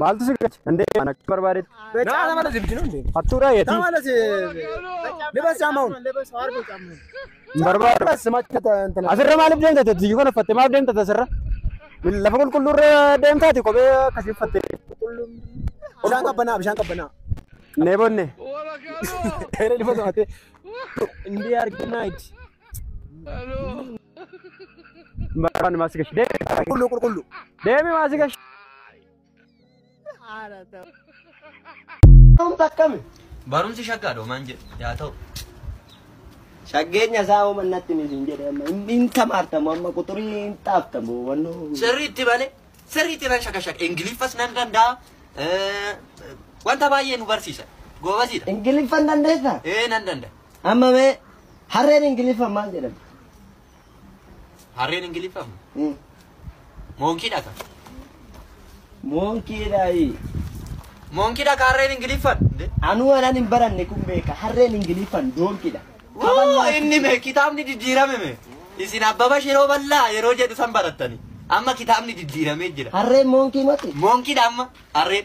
Maaltu si galche? Hin deeman akka barbaadetti. Nama nama lasi bicinu hin deemu. Hattuudha Nama yetii. lasi libas caama'uun. Hin barbaadu. Libas macha ta'an. Asirra maaliif deemta tati? Iyyuu kana uffatte maaf deemta tasirra? Lafa qulqulluurra deemtaati kophee akkasii uffatte. Bishaan qabbanaa bishaan qabbanaa. Neebonne. Kayra lifa to'ate. Indii arginaa itti. Barbaanni maasii gashi. Deemi. Qulqulluu qulqulluu. Deemi maasii gashi. Barumsi shaggaadha homaan jedhu yaa ta'u. Shaggeenya isaa hooma natti miti hin jedhe amma hin- hin tamaartamu amma quxurii hin xaaftamu wannoo. Sirriitti bane sirriitti nan shakashaka ingiliffas nan danda'a eh, wanta baay'ee nu barsiisa goobasiidha. Ingiliffan dandeessaa? Ee nan danda'a. Amma mee harreen Ingiliffaan maal jedhama? Harreen Ingiliffaan Hmm. moonkii dhaka. Moonkiidhaayi. Moonkii dhaka harreen Ingiliffaan. Nde. Anuu anan hin baranne kun beeka. Harreen Ingiliffaan doonkiidha. Woo, inni mee kitaabni diddiirame mee. Isin abbaba shiroo bal'aa yeroo jedhu san barattani. Amma kitaabni diddiiramee jira. Harreen moonkii mati. Moonkii dha amma harreen.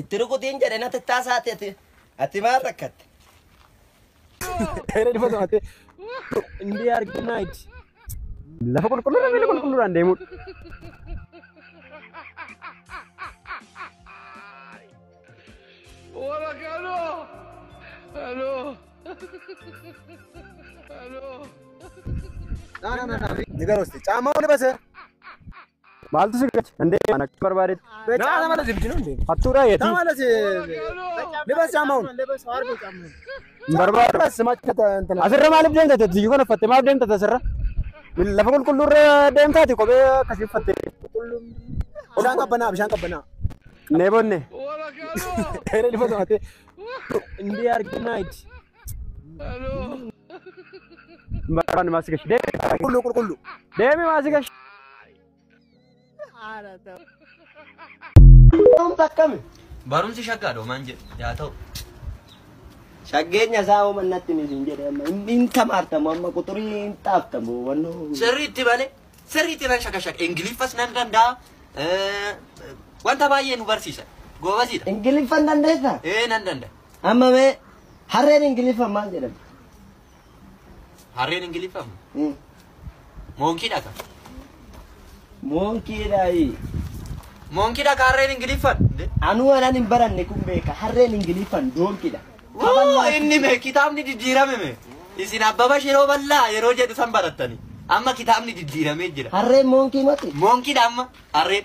Itti rukutiin jedhe natti taasaati ati ati maal rakkatte? Seera dhifa to'ate. Indee arginaa itti. Lafa qulqulluudhaan miila qulqulluudhaan deemuudha. Hola, Cano. Aló. Aló. Ni garosti. Caammaa wani base. Maaltu si gache? Hin deeman akka barbaadetti. Naa nama lasi bichinu hin deemu. Hattuudhaa yetii. Nama lasi libas saamaun. Hin barbaadu. Libas macha ta'an. Asirra maaliif deemta tati? Iyyuu kan uffatte maaf deemta tasirra? Lafa qulqulluurra deemtaati kophee akkasii uffatte. Bishaan qabbanaa bishaan qabbanaa. Neebonne. Dheeree lifa to'ate. Indii arginaa itti. Marraan maasi gashi. Deemi. Qulqullu qulqullu. Deemi maasi gashi. Barumsa akkami? Barumsi shaggaadha homaan jedhu yaa ta'u. Shaggeenya isaa hoo mannatti ni siin jedhe amma hin- hin tamaartamu amma quxurii hin xaaftamu wannoo. Sirriitti malee sirriitti nan shakashaka ingiliffas nan danda'a eh, wanta baay'ee nu barsiisa goobasiidha. Ingiliffan dandeessaa? Ee nan danda'a. Amma mee harreen Ingiliffaan maal jedhamti? Harreen Ingiliffaan Hmm. moonkii dhaka. Moonkiidhaayi. Moonkii dhaka harreen Ingiliffaan. Anuu anan hin baranne kun beeka. Harreen Ingiliffaan doonkiidha. Woo inni mee kitaabni diddiirame mee. Isin abbaba shiroo bal'aa yeroo jedhu san barattani. Amma kitaabni diddiiramee jira. Harreen moonkii mati. Moonkii dha amma harreen.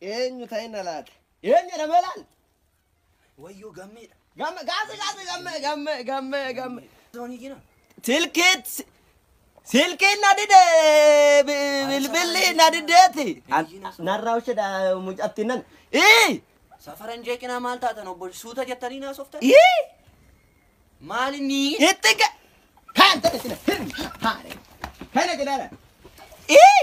Eenyu ta'inna laata? Eenyu jedhamee laal? Wayyoo gammeedha. Gamme gaasi gaasi gamme gamme gamme gamme. Zoonii jira. Silkiit silkiin na dide bi- bilbilli na dideeti. An- Narraa ushedha mucattiin nan. Ii! Safaran jeeqinaa maal taatan obbo suuta jettanii naasoftan? Ii! Maal inni? Itti ga- Kaan ta'e sila. Hin! Haare. Kana jedhaadha. Ii!